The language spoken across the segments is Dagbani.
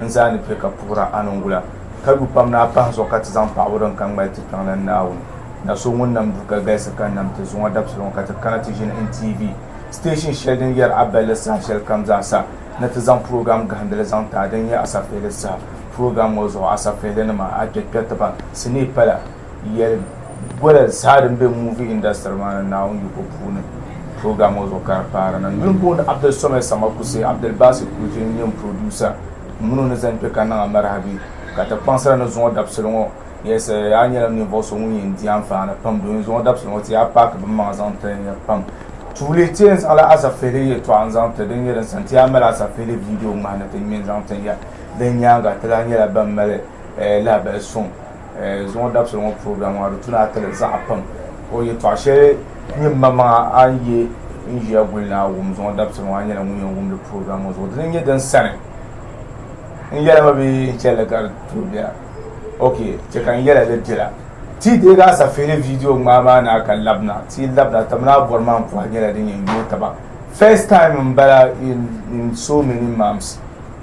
N zaa ni piɛ ka puhira a ni n wula, ka lu pam ni a pahi n zuɣu ka ti zaŋ paɣibu din ka ŋmali ti kpiɔŋ la n Naawuni na so ŋun nam du ka galisi ka nam ti zuŋɔ dabisili ŋɔ ka ti kana ti ʒini NTV station shɛli din yɛri a balli saha shɛli kam zaa sa ni ti zaŋ program gahindili zaŋ ti a din nyɛ Asafihili saha. Program ŋɔ zuɣu Asafihilinima, Akpɛkpɛtiba, Sinii pala. yɛli bɔla zaa din be movie industry maa ni Naawuni yiko puuni program ŋɔ zuɣu ka di paari niŋ. Yuun booni Abdul Somed Samakuse, Abdul Basit Kujiri n-nyɛ n producer ŋun o ni zaŋ kpe ka niŋ Amarahabi ka ti kpaŋsira ni zuŋɔ dabisili ŋɔ. Yes, a nyɛla ninvuɣu so ŋun yɛn di anfaani pam domin zuŋɔ dabisili ŋɔ ti yaa paaki binmaŋa zaŋ ti ya pam. Tuuli ti yɛn zaŋla asafihili yɛltɔɣa n-zaŋ ti din nyɛ din sani ti yaa mali asafihili video ŋmahi ni ti ŋme n-zaŋ ti ya. Din nyaaŋa ti lahi nyɛla ban mali lahabali suŋ. Zuŋɔ dabisili ŋɔ program maa di tuna atili zaɣa pam o yɛtɔɣa shɛli nyɛ maŋmaŋa a ni yɛ n ʒiya guli ni a wum zuŋɔ dabisili ŋɔ a nyɛla ŋun yɛn wumdi program ŋɔ zuɣu dini n nyɛ din sani n yɛla ma bee n chɛli ka di tuhi biɛla ok chɛ ka n yɛla li biɛla ti deegi a safeeli viidiyo ŋmaa maa ni a ka labina ti labina ti mini a bɔri maa n puhi nyɛla din yɛn yooi taba first time n bala in so many months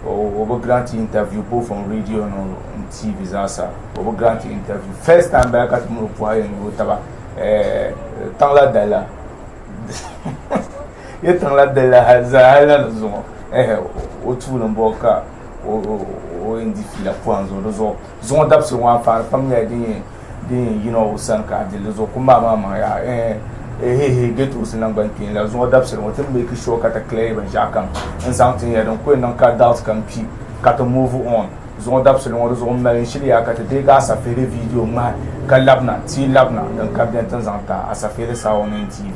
o bi grant interview both on radio and tv zaasa o bi grant interview first time bala ka ti mini o puhi ayi n-nyɛ o taba eh, tiŋla dala yi tiŋla dala zahali ni zuŋɔ eh, o tuuli n bɔɔ ka o indi fiila puhi n zuŋɔ di zuɣu zuŋɔ dabisi ŋɔ a paari pam nyɛla din yɛn din yɛn yina o sani ka a dil di zuɣu ku maai maa maŋ yaa eeheehe gɛtosi naŋgban kpeen la zuŋɔ dabisili ŋɔ ti meeki sure ka ti clear binshɛɣu kam n zaŋ tin ya din ku yɛn niŋ ka doubt kam kpi ka ti move on zuŋɔ dabisili ŋɔ di zuɣu m mali n shili yaa ka ti deegi asafihili video ŋmahi ka labina ti labina din ka beni ti zaŋ taai asafihili Saawɔneen TV.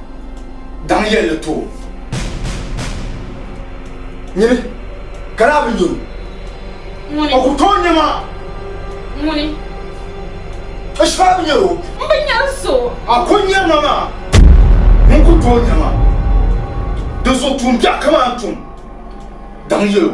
daŋ yɛlli ti o. Nyini, ka daa bi nyini o. O ku tooi nyɛ ma. Ŋuni? O shikɔɣu bi nyɛri o. M bi nyɛri so. A ku nyɛri ma maa, ŋun ku tooi nyɛ ma. Dinzuɣu tuumbiɛɣu kamani n tum, daŋ yɛl o.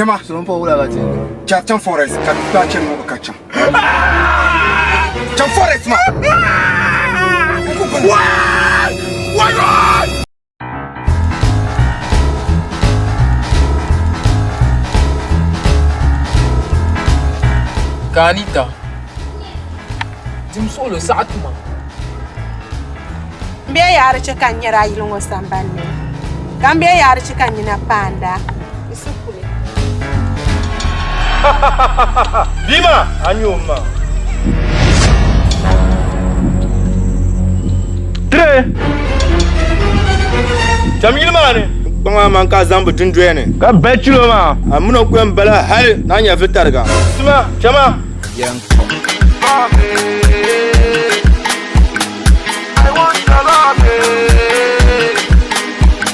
Nyama, so n pa wula la tin. Cha chan forest ka ta chen mo ka chan. Chan forest ma. Why? Why? Ka a ni ta dim suɣulo saɣa tuma. M be yaari chɛ ka n nyɛri a yili ŋɔ sambanni, ka m be yaari chɛ ka n nina paanda. Bia maa, a nya o ma. Tire! Cham yili maa ni. Kpaŋ maa man ka a zaŋ bi dundoya ni. Ka bali chilo maa. A mini o ku yɛn bala hali ni a nya vi tariga. Sima, chama!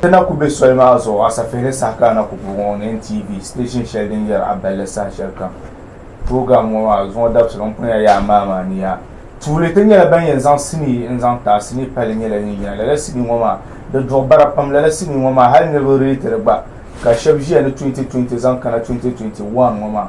Ti na ku be soli maa zuɣu Asafeehe saha ka a na ku bu ŋɔ ni NTV station shɛli din yɛri a balli saha shɛli kam. Program ŋɔ maa zuŋɔ dabisili ŋun punia yaa maa maa ni yaa. Tuuli ti nyɛla ban yɛn zaŋ sinii n-zaŋ ti a sinii palli nyɛla din yina. Lala sinii ŋɔ maa di duɣi bara pam. Lala sinii ŋɔ maa hali niriba reeti di gba ka shɛba ʒiya ni 2020 zaŋ kana 2021 ŋɔ maa.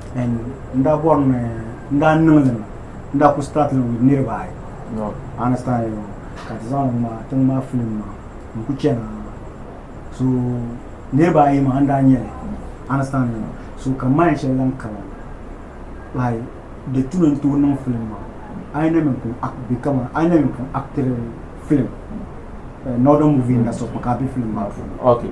And n daa bɔri ni n daa niŋ li mi n daa ku start li with niriba ayi no understand you ka ti zaŋ ŋma tiŋ maa film maa n ku chana so niriba ayi maa n daa nyɛli understand you so ka mind shɛli lan kana like di tuni n tooi niŋ film maa a yi na mi pun act bi kama a yi na mi pun actiri film eh, northern movie industry ka a be film maa puuni okay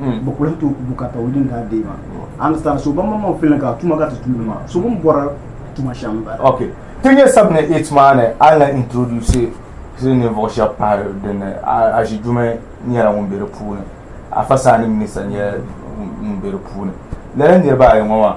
hmm. bɛ kula to bukata o din daa dee maa hmm. understand so ban maŋmaŋ filin ka tuma ka ti tuuli maa so bin bɔra tuma shɛm bala ok ti nyɛ sab ni it maa ni a na introduce sili ninvuɣu shɛba pahi dinni a ʒi jume nyɛla ŋun be di puuni a fasaani minista nyɛla ŋun be di puuni lala niriba ayi ŋɔ maa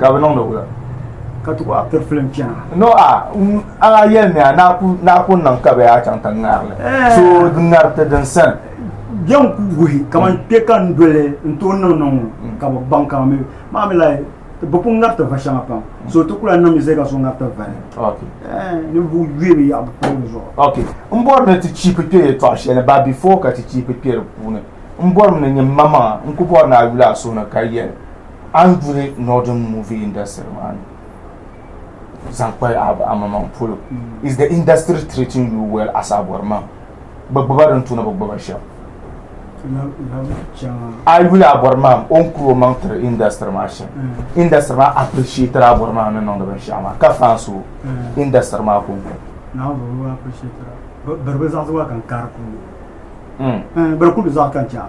ka bi niŋdi wula ka ti kɔɣa piri filim chana no a a yɛli ni a naa ku niŋ ka bee a chaŋ ti ŋarili so di ŋari ti din sani bɛn ku guhi kamani mm. kpe ka n doli n tooi niŋ niŋ mm. ka bi baŋ ka mi maa mi la bi pun ŋari ti va shɛŋa pam mm. so ti kula niŋ mi zɛ ka so ŋari ti vali ninvuɣu yuya bi yaɣa bi pili zuɣu n bɔri ni ti chiipi kpe yɛltɔɣa shɛli ba bifo ka ti chiipi kpe di puuni n bɔri ni nyɛ maŋa n ku bɔri ni a yuli a suhu ni ka yɛli a ni duli northern movie industry maa ni zaŋ kpa amaman polo is the industry treating you well as a bɔri maŋ bi gbuba din tuna bi gbuba shɛm a yuli a bɔri maŋ o ni kuri o maŋ tiri industry maa shɛm mm. industry maa appreciated a bɔri maŋ ni niŋdi binshaɣu maa ka fan so mm. industry maa ko bari bi zaɣisi waa kan kari kuli mm. bari kuli zaɣi kan chɛ a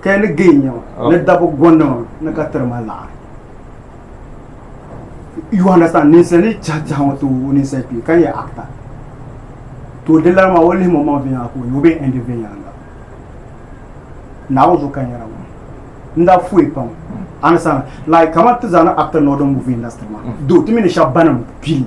Ka yi ni gee nyɛma oh. ni dabi gondima ni ka tiri ma laɣiri. You understand? Ninsali chɛhi chɛhi ŋɔ tooi ninsali kpee ka yɛ actor. To di lana maa o lihi mo maŋ viɛnyɛla ka o yɛ o bee endi viɛnyɛla la. Naawuni zuɣu ka n yɛra ŋɔ. N daa fuyi pam. Understand? Like kamani ti zaa ni actor nɔɔ di movie industry maa. Do ti mi ni shɛba banim pili.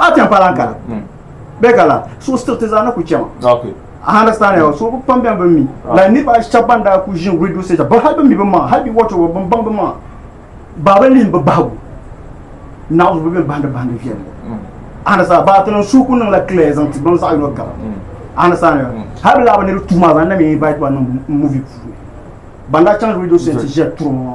a ti pa lan kala bɛ kala so stiriti zaa na ku chɛma I understand ya so pam bɛn bin mi la niriba shɛba ban daa ku ʒin radio station ba hali bi mi bi maŋa hali bi wɔchi wɔchi bin baŋ bi maŋa baaba lihi bi bahigu naɣizu bi bɛn bahindi bahindi viɛlli I understand ba ti niŋ su ku niŋ la clear zaŋ ti baŋ zaɣi yino gaba I understand ya hali bi laa bi ni di tuma zaŋ na mi invite ba niŋ movie puuni ban daa chaŋ radio station ti ʒiya turi ŋɔ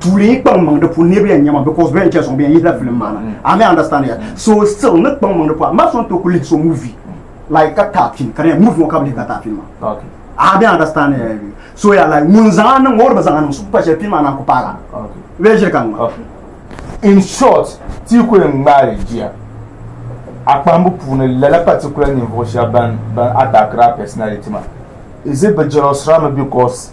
tuuli yi kpaŋ maŋ di puuni niriba yɛn nyɛma because bɛn chɛ suŋ bɛn yihila film maa na a mi understand ya so still ni kpaŋ maŋ di puuni ma sɔn to ku lihi so movie like ka taa film ka di movie ŋɔ ka bi lihi ka taa film maa a mi understand ya so ya like ŋun zaŋ a niŋ ŋɔ o di bi zaŋ a niŋ so kpa shɛli film maa na ku paagi a bɛ ʒiri ka ŋma in short ti yi ku yɛn ŋmaari jiya a kpahimbu puuni lala particular ninvuɣu shɛba ban ban attackiri a personality maa is it bi jealousira mi because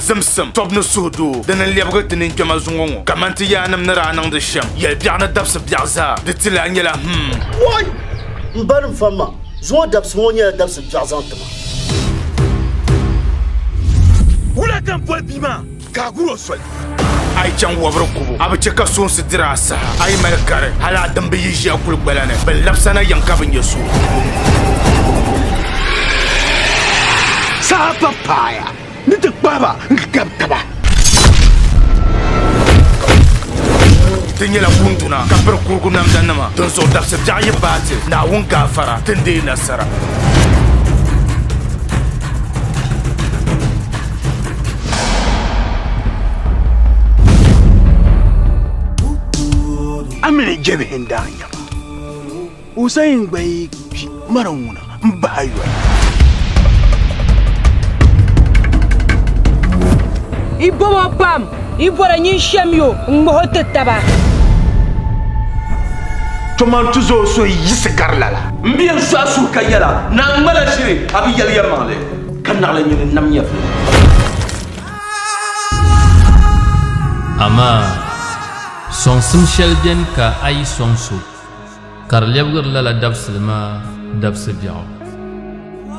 zimsim, tɔbu ni suhudoo din ni lɛbigi di ninkpɛma zuŋɔ ŋɔ, kaman ti yaannim ni daa niŋdi shɛm yɛli biɛɣu ni dabisi biɛɣu zaa, di ti lahi nyɛla, Hum! Wɔi! M ba ni m famma, zuŋɔ dabisi ŋɔ nyɛla dabisi biɛɣu zaŋ ti ma. Wula ka n boli bia maa ka a gur o soli? A yi chaŋ wɔbiri gubu, a bi chɛ ka soonsi dir a saha. A yi mali gari, hal a dimba yi ʒi a kuli gbala ni, bɛ ni labis a na yiŋ ka bi nya so. Saha pa paaya. Ni ti kpahi ba n-gabi taba. Ti nyɛla kunduna ka piri kurugu namdanima, dinzuɣu dabsi biɛɣu yi baai ti, Naawuni gaafara, ti ni deei nasara. Amini jɛbihi n-daa nyɛ ba. Hussein gba yi kpi mara ŋuna n bahi yoli. Yi bomo pam, yi bɔra nyin shem yo n ŋmaho ti taba. Toman ti zo so yi yiɣisi gari lala. M bi yen sɔɣi suhu ka yɛla, Naa n ŋmala shiri, a bi yɛli yɛlimaŋli. Ka naɣila nyin n nam nyɛvili. Amaa! Sɔŋsim shɛli beni ka a yi sɔŋ so. ka di lɛbigiri lala dabisili maa dabisi biɛɣu,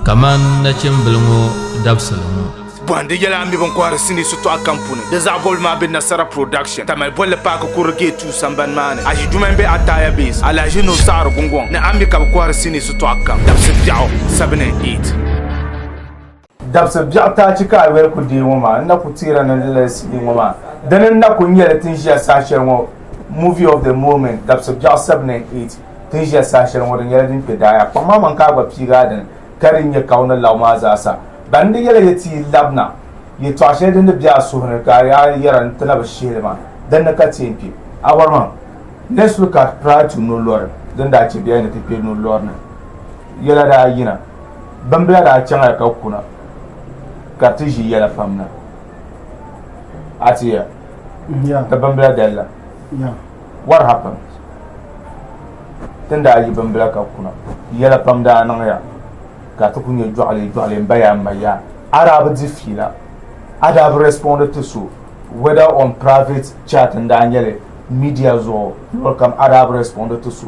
kamani nachimbili ŋɔ dabisili ŋɔ. Bɔhindi yɛla n mi bini kɔhiri sinii shitɔɣu kam puuni. Di zaɣ bɔbigu maa be Nasara Production, Tamale bolli paaki kurili Gate Two sambani maa ni. Aʒi duma m-be Ataya Base, Alahaji Nuhu Saɣiri Gungɔŋ ni. A mi ka bɛ kɔhiri sinii shitɔɣu kam dabisi biɛɣu, seven and eight. Dabsi biɛɣu taachi ka a yoli ku deei ŋɔ maa, n na ku teera ni di lali CD ŋɔ maa. Dini n na ku nyɛ li tin ʒiya saha shɛli ŋɔ Movie of the Moment, Dabsi biɛɣu 7 and 8, Tin ʒiya saha shɛli ŋɔ di nyɛla din kpe daai. A kpaŋ ma maŋ ka a gba piigi a dini ka di nyɛ ka o ni laɣim a zaasa. Ban n di yɛla yɛ ti yi labina yɛtɔɣa shɛli din di be a suhu ni ka a yaa yɛra n ti na bi shihi li maa, dinni ka ti yɛn kpe. A bɔri ma, Let's look at prior to no lɔri din daa chɛ bɛ yaa ni ti kpe no lɔri ni. Yɛla daa yina, bimbila daa chaŋya ka kuna ka ti ʒi yɛla fam na. A tiya ni bimbila dalila. What happened? Tin daa yi bimbila ka kuna, yɛla pam daa niŋya ka ti ku nyɛ jɔɣili jɔɣili m ba ya m ma ya. A daa bi di fiila. A daa bi respond ti so whether on private chat n daa nyɛli media zuɣu lol kam a daa bi respond ti so.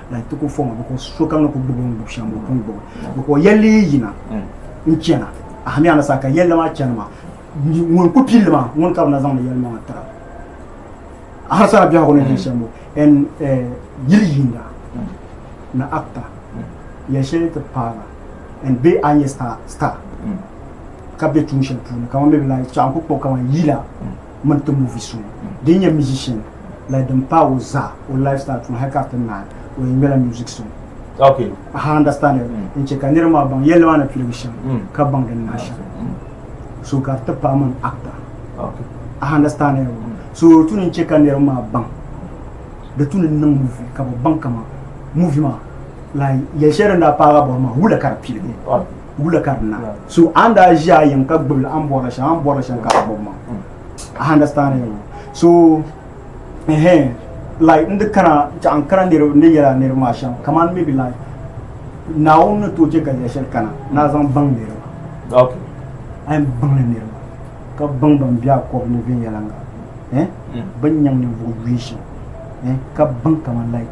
Like ti ku fɔŋɔ biko sokam ni ku gbubi o ni gbubi shɛm o pun gbubi biko yɛlli yi yina n chana ahami a ni saa ka yɛlli maa chani maa ŋun ku pilli maa ŋun ka bi na zaŋdi yɛlli maa tira a hali sara biɛhigu ni yɛn shɛm o ɛn yili yinda ni akta yɛli shɛli ti paala ɛn bee a ni yɛ star ka bɛ tuun shɛli puuni kamani bɛ bi lahi chaɣa n ku kpuɣi kamani yila mini ti movie so din nyɛ musician like din paai o zaa o lifestyle from high cap to nine o yɛn ŋmɛla music so okay aha understand it mm. n chɛ ka niriba maa baŋ yɛlli maa ni piligi shɛm mm. ka baŋ din niŋ shɛm mm. so ka di ti paai mini actor okay aha understand it mm. so tu ni chɛ ka niriba maa baŋ di tu ni niŋ movie ka bi baŋ kama movie maa like yɛli shɛli din daa paagi bɔri maa wula ka di piligi wula ka di na so a ni daa ʒi a yiŋ ka gbibili a ni bɔrila shɛŋa a ni bɔrila shɛŋa ka a bɔbi maŋ a understand me so ehe like n di kana chaɣa n kana niriba n di yɛla niriba maa shɛŋa kamani maybe like naawuni ni tooi chɛ ka luɣ shɛli kana ni a zaŋ baŋ niriba okay a yɛn baŋli niriba ka baŋ ban bɛ a kɔbi ni viɛnyɛliŋga eh bin nyaŋ ninvuɣ yuui shɛm eh ka baŋ kamani like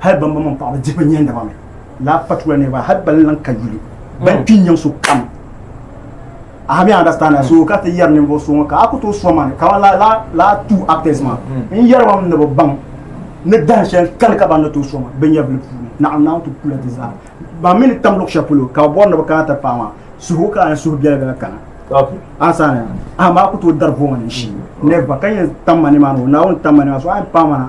hal bambo mini paɣaba dihi bi nyɛhindaba mi laa particular niriba hal ban lan ka yuli ban kpi nyaŋ so kam aha mi understand so ka ti yɛri ninvuɣu so ŋɔ ka a ku tooi sɔŋ man ka la la la two actors man n yɛri mam ni bi baŋ ni dahin shɛli kani ka ban ni tooi sɔŋ man bin yɛbili puuni naɣim naɣim ti kula ti zaa ban mi ni tam luɣu shɛli polo ka bi bɔri ni bi kana ti paɣa maa suhu ka ni suhu biɛla biɛla kana ansana aha maa ku tooi dari vo man n shi nɛba ka yɛn tam ma ni maa ni o naawuni tam ma ni maa so a yɛn paɣa mana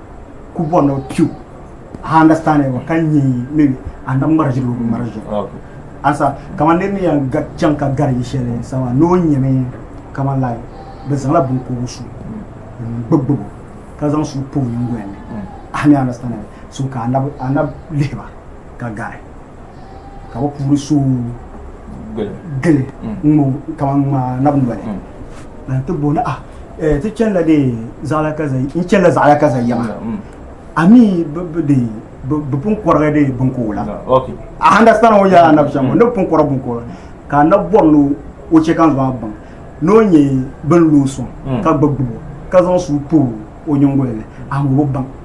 ku bɔri ni o piu ha understand wa ka nyɛ maybe a na ŋmari ʒiri o bi ŋmari ʒiri Okay. ansa kamani niriba ni yɛn ga- chaŋ ka gari yi shɛli sama ni o nyɛmi kamani lai bi zaŋla binkogu su n gbubi gbubi ka zaŋ su pa o nyingoli ni ah ni understand so ka a na bi- a na lihiba ka gari ka bi puuni so gili ŋo kamani ŋmaa nabi noli na ti bo na ti chɛnila de zaɣala ka n chɛnila zaɣala ka za yɛma ami de bi pun kɔrigi de binko la a handa sani o yɛla nabi shɛm ne pun kɔrɔ binko la ka na bɔri ni o chɛ kan zɔn baŋ n'o nyɛ bin lo sɔŋ ka gbubi gbubo ka zaŋ suu pa o nyingoli ni a ŋubi baŋ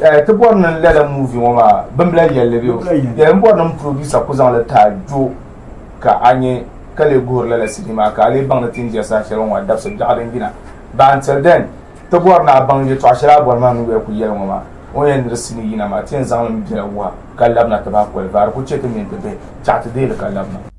Eh, ti bɔri ni lala muuvi ŋɔ maa bimbila yɛlli bɛ yɛli n bɔri ni n producer ku zaŋli taai jo ka a nyɛ ka lee guhiri lala sidi maa ka a lee baŋ ni ti ni ʒiya saha shɛli ŋɔ maa dabisi biɛɣu din yina but until then ti bɔri ni a baŋ yɛtɔɣa shɛli a bɔri maa mini bɛ ku yɛli ŋɔ maa o yɛn ni di sini yina maa ti yɛn zaŋli n biɛla wuha ka labina ti ba koli vaari ku chɛ ti mini ti bihi chaɣa ti deei li ka labina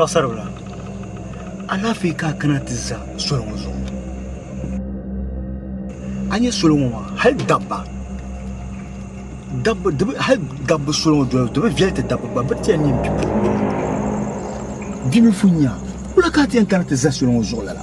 paɣasaribila alaafee ka a kana ti za soli ŋɔ zuɣu a nyɛ soli ŋɔ maa hali dabba dabba di bi hali dabba soli ŋɔ doli di bi viɛli ti dabba gba bi ti yɛn nyɛ bipuɣin bia mini funyina kula ka a ti yɛn kana ti za soli ŋɔ zuɣu lala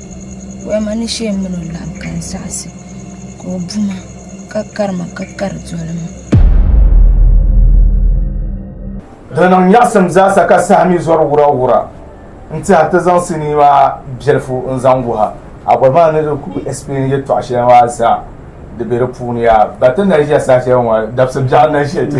Wema ni shee mini o laɣim ka n zaɣisi ka o buma ka kari ma ka kari doli ma. Di niŋ nyaɣisim zaasa ka saha mi zɔri wurawura n-tɛha ti zaŋ sinii maa biɛlifu n-zaŋ wuha a boli maa ni di kul explain yɛtɔɣ shɛli maa zaa di be di puuni yaa. Ba ti naʒiya saha shɛli ŋɔ dabisi biɛɣu naʒiya ti.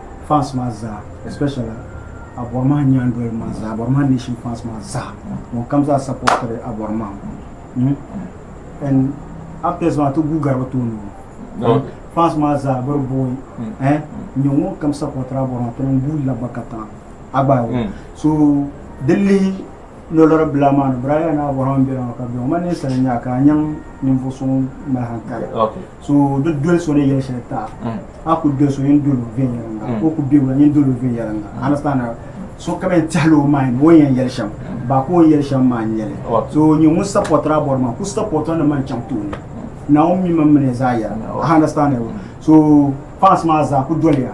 fans maa zaa especially Abɔrimahi nyaandoliba maa zaa Abɔrimahi nation fans maa zaa ŋun kam zaa supportiri Abɔrimahi hmm? and actors maa ti guugari bi tooni o fans maa zaa biri booi hmm. eh? n nyɛ ŋun kam supportiri Abɔrimahi ti niŋ guui labba ka tiŋa agbaai o hmm. so di lihi lolori bila maa ni biraaya ni Abɔrimahi bela maa ka bɛ ma ninsali nyaa ka a nyaŋ ninvuɣu so ŋun mali hankali so di doli so ni yɛli shɛli taɣa mm. a ku doli so yɛn doli o viɛnyɛlinga mm. o ku bɛ wula yɛn doli o viɛnyɛlinga mm. understand so ka yɛn tɛhili o mind o yɛn yɛli shɛm ba ka o yɛli shɛm maa n yɛli so nyɛ ŋun sapɔtira bɔri maa ku sapɔtira ni man chaŋ tooni na o mi man mini zaa yɛra understand so fans maa zaa ku doliya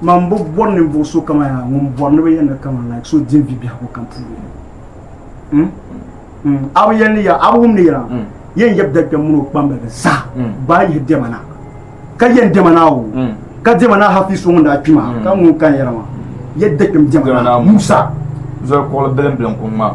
Man bi bɔri ninvuɣu so kama yaa ŋun bɔri ni bi yɛn ni kama like so din bi biɛhigu kam puuni hmm? hmm. a bi yɛn ni ya a bi wumni yɛra hmm. yɛn yɛb dali kpɛm mini o kpambalibi zaa gbaa yihi dɛma na ka yɛn dɛma na o ka dɛma na hafi so ŋun daa kpi maa ka ŋun kan yɛra maa yɛ dɛ kpɛm dɛma na musa zɔri kuɣili bilim bilim kuŋ maa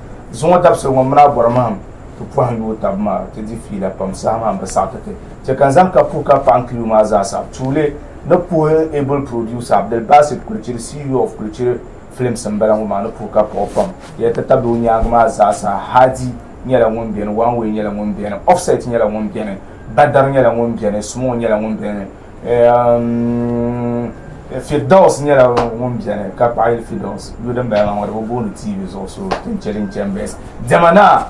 Zuŋɔ dabisili ŋɔ mini a bɔri mahim ti pɔhim yuui tab maa ti di fiila pam saha maa m-bi saɣi ti ti. Chɛ ka n zaŋ ka puhi ka paɣim kiliyu maa zaa saɣi. Tuuli ni puhi n able producer Abdul Basit Kulichiri CEO of Kulichiri Films m-bala ŋɔ maa ni puhi ka paɣi o pam. Yɛli ti tabili o nyaaŋa maa zaa sa Hadi nyɛla ŋun beni, One Way nyɛla ŋun beni, Offset nyɛla ŋun beni, Badar nyɛla ŋun beni, Small nyɛla ŋun beni, Firdaus nyɛla ŋun biɛni ka paɣi Firdaus yo din bala ŋɔ bi booni TV zuɣu so tin cheli n chen bes diɛma naa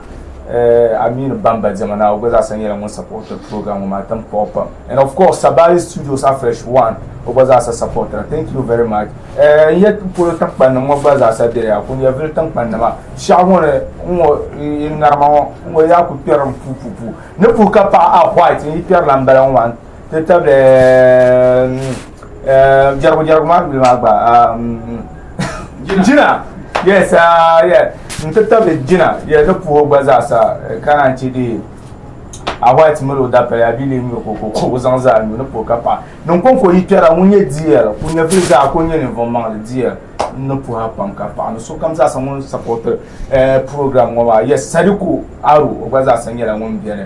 Aminu Bamba diɛma naa o gba zaasa nyɛla ŋun support program ŋɔ maa tin puɣi pam and of course Sabali Studios Afresh One o gba zaasa support ra thank you very much n ye polo tinkpanni ŋɔ gba zaasa bɛ ya kun yevili tinkpanni ma shɛɣu ŋɔ ni ŋɔ ŋarima ŋɔ ŋɔ yaa ku kpɛri n puu puu puu ni puhi ka paɣi a white n yi kpɛri la n bala ŋɔ maa ti tabili jɛrigu jɛrigu maa duli maa gba jina yes n ti tabili jina yɛ di puhi gba zaa sa ka naan ti di a white mali o dapɛli a bili nyuri ko ko ko zaŋ zaa nyu ni puhi ka paɣa ninkonko yi kpɛra ŋun nyɛ dl ku nyɛ fili zaa ko nyɛ ninvuɣ maŋli dl ni puha pam ka paɣa ni sokam zaa sa ŋun sapɔti program ŋɔ maa yes sadiku aro o gba zaa sa nyɛla ŋun bɛni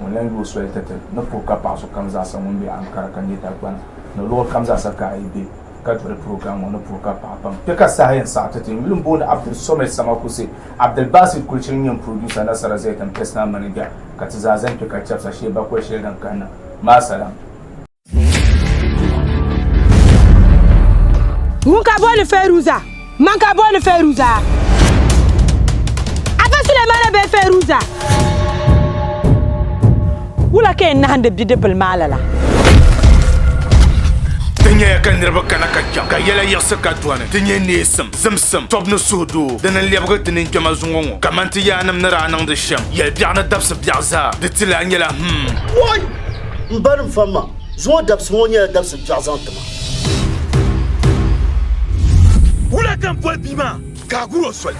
Ŋun lan yo o soli tɛte ni puhi ka paɣ so kam zaasa ŋun be Ankara ka nyɛ Dagbani ni luɣ kam zaasa ka a yi be ka doli purogiram ŋɔ ni puhi ka paɣ pam. Kpe ka saha yɛn saɣi tɛte. N yuli m-booni Abdul Somed Samakuse. Abdul Basit Kulchiri n-nyɛ m purodusa Nasara Zayton Personal Manager ka ti zaa zani kpe ka chɛbisa Shee Bakoli shɛli din kahina maa salam. Ŋun ka booni Fɛruza, man ka booni Fɛruza. Afa Sulemana bee Fɛruza. Wula ka yɛn nahindi bidibbil maa lala? Ti nyɛya ka niriba kana ka chaŋ, ka yɛla yiɣisi ka dɔni. Ti nyɛ neesim, zimsim, tɔbu ni suhudoo din ni lɛbigi ti ninkpɛma zuŋɔ ŋɔ, kaman ti yaannim ni daa niŋdi shɛm yɛl biɛɣu ni dabisi biɛɣu zaa. Di ti lahi nyɛla, Hum! M ba ni va ma, zuŋɔ dabisi ŋɔ nyɛla dabisi biɛɣu zaŋ ti ma. Wula ka n boli bia maa ka a gur o soli?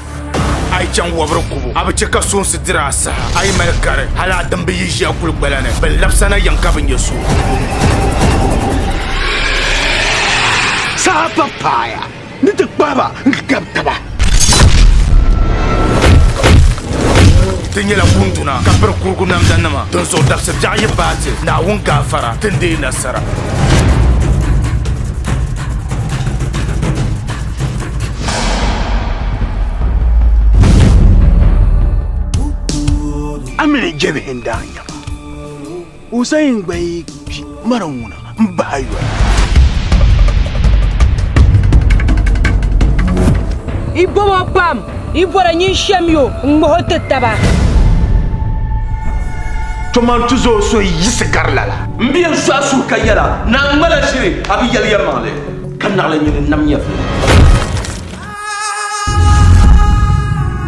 A yi chaŋ wabiri kubu, a bi chɛ ka soonsi diri a saha. A yi mali gari, hal a dimbi yi ʒi a kuli gbala ni. Bɛ labis a na yɛŋ ka bi nya so. Saha pa paaya. Ni ti kpahi ba n-gab taba. Ti nyɛla kunduna ka piri kurugu namdanima, dinzuɣu dabsi biɛɣu yi baai ti, Naawuni gaafara, ti ni deei nasara. Amina jɛbihi n-daa nyɛ ba. Hussein gba yi kpi mara ŋuna n bahi yoli. I bobo pam, i bɔra nyin shem yo n ŋmaho ti taba. Toman ti zo so yi yiɣisi gari lala. M bi yen sɔɣi suhu ka yɛla, Naa ŋma la ʒiri, a bi yɛli yɛlimaŋli. Ka naɣila nyu ni nam nyɛvili.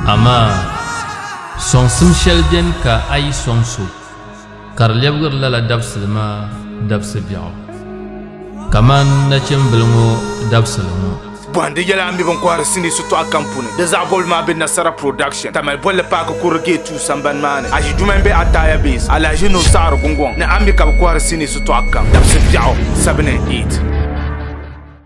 Amaa! Sɔŋsim shɛli beni ka a yi sɔŋ so. ka di lɛbigiri lala dabisili maa dabisi biɛɣu kamani nachimbili ŋɔ dabisili ŋɔ. Bɔhindi yɛla n mi bini kɔhiri sinii shitɔɣu kam puuni. Di zaɣ bɔbili maa be Nasara Production, Tamale bolli paaki kurili Gate 2 sambani maa ni. Aʒiduuma m-be Ataya Base, Alahaji Nuhu Saɣiri Gungɔŋ ni a mi ka bɛ kɔhiri sinii shitɔɣu kam dabisi biɛɣu 7 and 8.